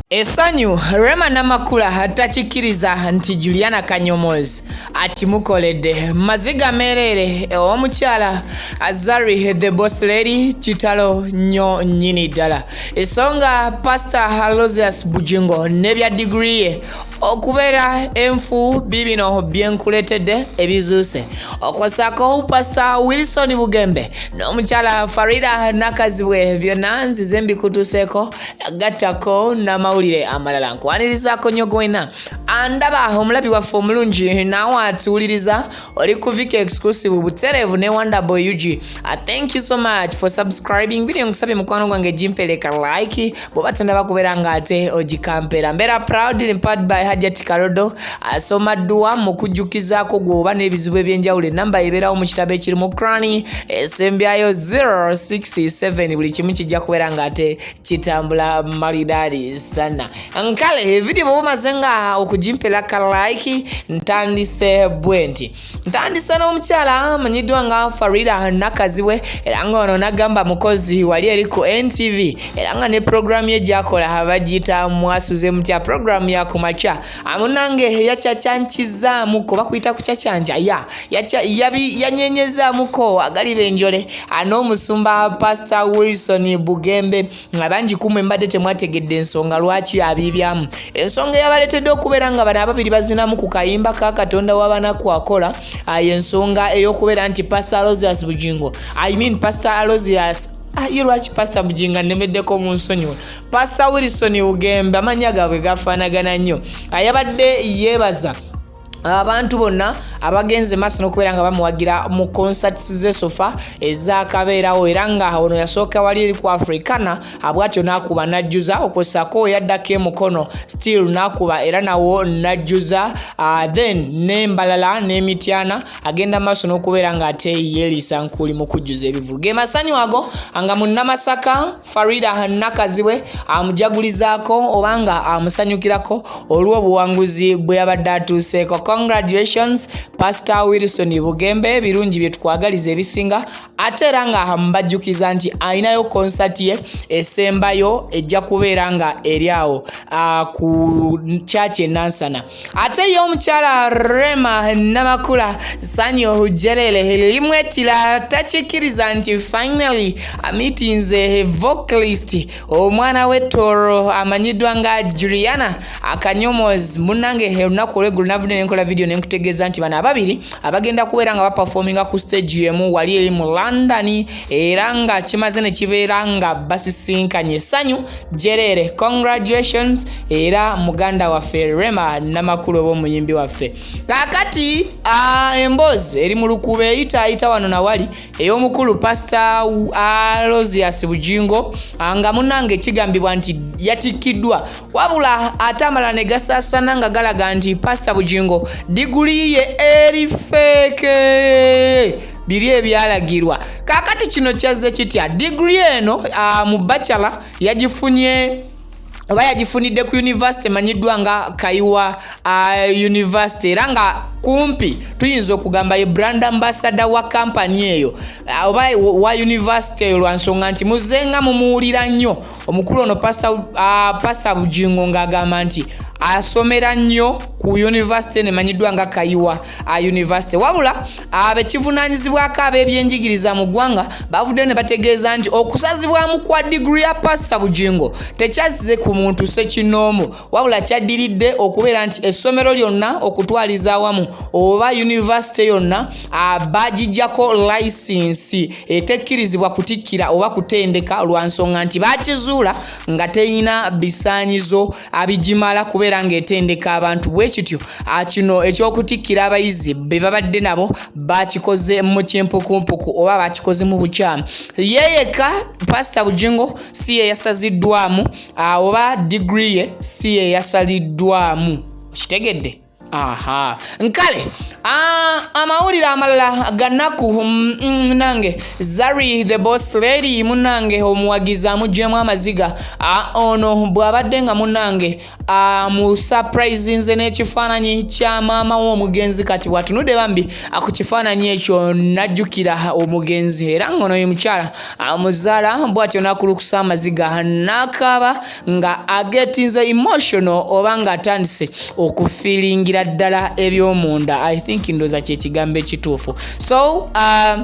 Esanyu Rema Namakula hatakikiriza nti Juliana Kanyomozi akimukoledde maziga mereere omukyala Azari the boss lady kitalo nyo nyini dala esonga Pastor Halosius Bujingo nebya degree okubeera enfu bibino byenkuletedde ebizuuse okwosako pasita wilson bugembe n'omukyala farida nakazibwe byonna nzize mbikutuseeko gattako n'amawulire amalala nkuwanirizaako nyo gwena andaba omulabi waffe omulungi naawe atuwuliriza uri kuvika exclusive ubuterevu ne wonder boy ug I ah, thank you so much for subscribing video nkusabye mukwano gwange jimpeleka like bobatenda bakubera nga ate ojikampera mbera proud limpad by hajati karodo asoma ah, dduwa mu kujjukizako gwoba n'ebizibu ebyenjawulo enamba eberawo mu kitabo ekiri mu crani esembyayo 067 buli kimu kijja kubera nga ate kitambula malidari sana nkale evidiyo bwoba omaze nga okugimpera ka like ntandise bwe nti ntandise n'omukyala amanyiddwa nga farida nakaziwe era nga ono nagamba mukozi wali eri ku ntv era nga ne puroguramu ye gyakola abagiyita mwasuze mutya puroguramu yakumakya amunange yakyakyankizaamu kuba kuyita kukyakyanca ya yanyenyezamuko agaliba enjole n'omusumba pasita wilson bugembe nga bangi kumwe mbadde temwategedde ensonga lwaki abiibyamu ensonga eyabaleetedde okubeera nga bano ababiri bazinamu ku kayimba ka katonda wabanaku akola ayo ensonga ey'okubeera nti pastor alosius bugingo i mean pastor alosius ah, ye lwaki pasita bujinga nnemeddeko mu nsonyiwa pasita wilson ugembe amannya gaabwe gafaanagana nnyo ayabadde yeebaza abantu bonna abagenze maaso nokubeera nga bamuwagira mu concerts zesofa ezakabeerawo era nga ono yasooka wali eri ku africana abwatyo nakuba najjuza okwosako yaddako emukono still nakuba era nawo najjuza uh, then nembalala nemityana agenda maaso nokubeera nga ate yelisa nkuli mu kujjuza ebivulu gemasanyu ago nga munnamasaka Farida Nakazibwe amujagulizaako oba nga amusanyukirako olw'obuwanguzi bwe yabadde atuuseeko. Congratulations Pastor Wilson Bugembe, birungi bye tukwagaliza ebisinga ate era nga amubajjukiza nti alinayo konsati ye esembayo ejja kubeera nga eri awo ah, ku kyaki enansana. ate ye omukyala rema namakula sanyu ohujerere limwetira takikiriza nti finally amitinze vocalist omwana we toro amanyiddwa nga juliana akanyomozi munange olunaku olwegulu navudde nenkola vidiyo nenkutegeeza nti bano ababiri abagenda kubeera nga bapafominga ku stage emu wali eri mu london era nga kimaze nekibeera nga basisinkanye sanyu jerere congratulations era muganda waffe rema namakulu oba omuyimbi waffe kakati uh, emboozi eri mu lukuba eyitaayita wano nawali ey'omukulu pasita alosias bujingo ah, nga munange kigambibwa nti yatikkiddwa wabula ate amala ne gasaasana nga galaga nti pasita bujingo diguli ye eri feeke biri ebyalagirwa kakati kino kyazze kitya digiri eno uh, mu bachelor yagifunye oba yagifunidde ku univesity emanyiddwa nga kaiwa uh, univesity era nga kumpi tuyinza okugamba ye brand ambasada wa kampani eyo uh, oba wa univesity eyo lwa nsonga nti muzenga mumuwulira nnyo omukulu ono pasta uh, bujingo ng'agamba nti asomera nnyo ku univesity eno emanyiddwa nga kaiwa uh, univesity wabula abekivunanyizibwako ab'ebyenjigiriza mu ggwanga bavuddeyo ne bategeeza nti okusazibwamu kwa digiri ya pasita bugingo tekyazze ku muntu sekinoomu wabula kyaddiridde okubeera nti essomero lyonna okutwaliza awamu oba yunivasite yonna bagijjako layisinsi etekkirizibwa kutikkira oba kutendeka lwa nsonga nti bakizuula nga terina bisaanyizo abigimala kubeera ng'etendeka abantu bwe kityo ah, kino eky'okutikkira abayizi be babadde nabo bakikoze mu kimpukumpuku oba bakikoze mu bukyamu yeyeka pasita bujingo si ye yasaziddwamu ah, oba digiri ye si ye yasaliddwamu okitegedde aha nkale ah, amawulire amalala ganaku mm, mm, nange zari the boss lady munange omuwagizi amugyemu amaziga ah, ono bwabadde nga munange ah, mu surprise nze n'ekifaananyi kya maama w'omugenzi kati bwatunudde bambi ku kifaananyi ekyo najjukira omugenzi era ngaono ye mukyala muzaala bwatyo nakulukusa amaziga nakaaba nga agetinze emotional oba nga atandise okufilingira ddala ebyomunda i think ndoza kyekigambo ekituufu so uh,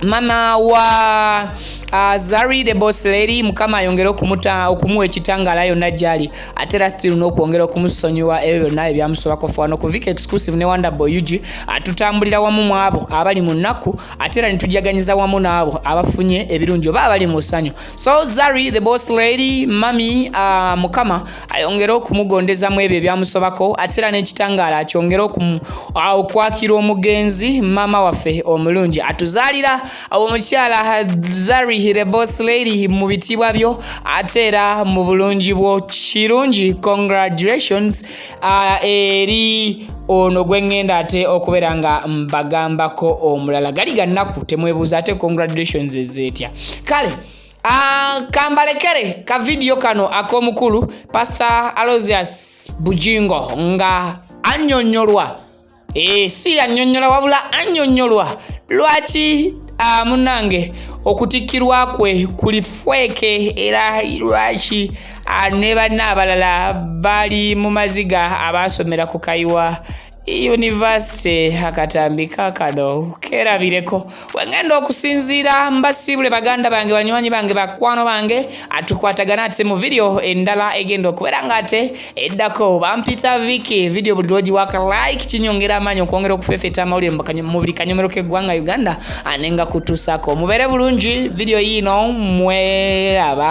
mama wa uh, zari the boss lady mukama ayongere okumuta okumuwa ekitangala yonna gyali ate era still nokwongera okumusonyiwa ebyo byonna ebyamusobako fwa nokuvika exclusive ne wonderboy ug atutambulira wamu mwabo abali mu nnaku ate era nitujaganyiza wamu naabo abafunye ebirungi oba abali mu ssanyu so zari the boss lady mami uh, mukama ayongere okumugondeza mu ebyo ebyamusobako ate era n'ekitangaala akyongere ah, okwakira omugenzi maama waffe omulungi atuzaalira omukyala zari the boss lady mu bitiibwa byo ate era mu bulungi bwo kirungi congratulations uh, eri ono gwengenda ate okubeera nga mbagambako omulala gali gannaku temwebuuza ate congratulations ezeetya kale Ah, kambalekere ka vidiyo kano ak'omukulu pasita alosius bujingo nga annyonnyolwa Ee, eh, si yannyonnyola wabula annyonnyolwa lwaki ah, munange okutikkirwa kwe kuli fweeke era lwaki ah, ne banna abalala bali mu maziga abaasomera ku kayiwa yunivasite akatambika kano keerabireko wengenda okusinziira mbasiibule baganda bange banywanyi bange bakwano bange atukwatagana ate mu vidiyo endala egenda okubeera nga ate eddako bampita viki vidiyo buli lwogi waka like kinyongera amaanyi okwongera okufefeta amawulire mu buli kanyomero k'eggwanga uganda ane nga kutuusako mubeere bulungi vidiyo yiino mweraba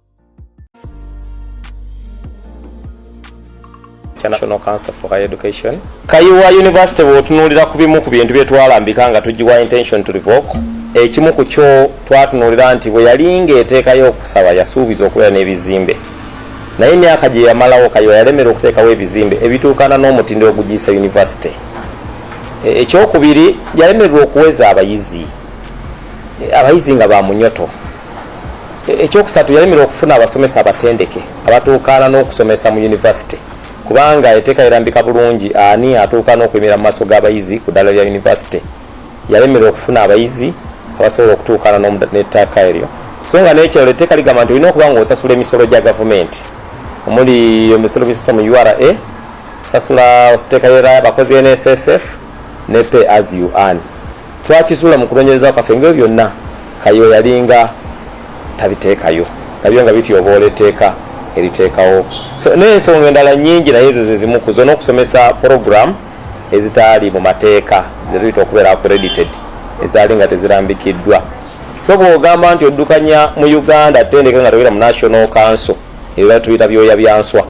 kya National Council for Higher Education. Kayiwa University bw'otunuulira ku bimu ku bintu bye twalambika nga tugiwa intention to revoke, ekimu ku kyo twatunuulira nti bwe yali ng'eteekayo okusaba yasuubiza okubeera n'ebizimbe naye emyaka gye yamalawo Kayiwa yalemera okuteekawo ebizimbe ebituukana n'omutindo ogugiyisa yunivasite. E, ekyokubiri yalemererwa okuweza abayizi e, abayizi nga ba munyoto ekyokusatu yalemera okufuna abasomesa abatendeke abatuukaana n'okusomesa mu yunivasite kubanga eteeka lirambika bulungi ani atuuka n'okuyimira mu maaso g'abayizi ku ddala lya yunivasite yalemera okufuna abayizi abasobola okutuukaana n'ettaaka eryo so nga n'ekirala etteeka ligamba nti olina okuba nga osasula emisolo gya gavumenti omuli emisolo bisasa mu ura osasula ositeeka yera abakozi nssf ne pay as you earn Twakizuula mu kunonyereza kwaffe nga byonna Kayiwa yalinga tabiteekayo nabyo nga bityoboola etteeka eriteekawo n'ensonga endala nyingi naye ezo zezimu kuzo n'okusomesa program ezitaali mu mateeka zetuyita okubeera accredited ezaali nga tezirambikiddwa so bw'ogamba nti oddukanya mu uganda tendeka nga togera mu national council ebyo batuyita byoya byanswa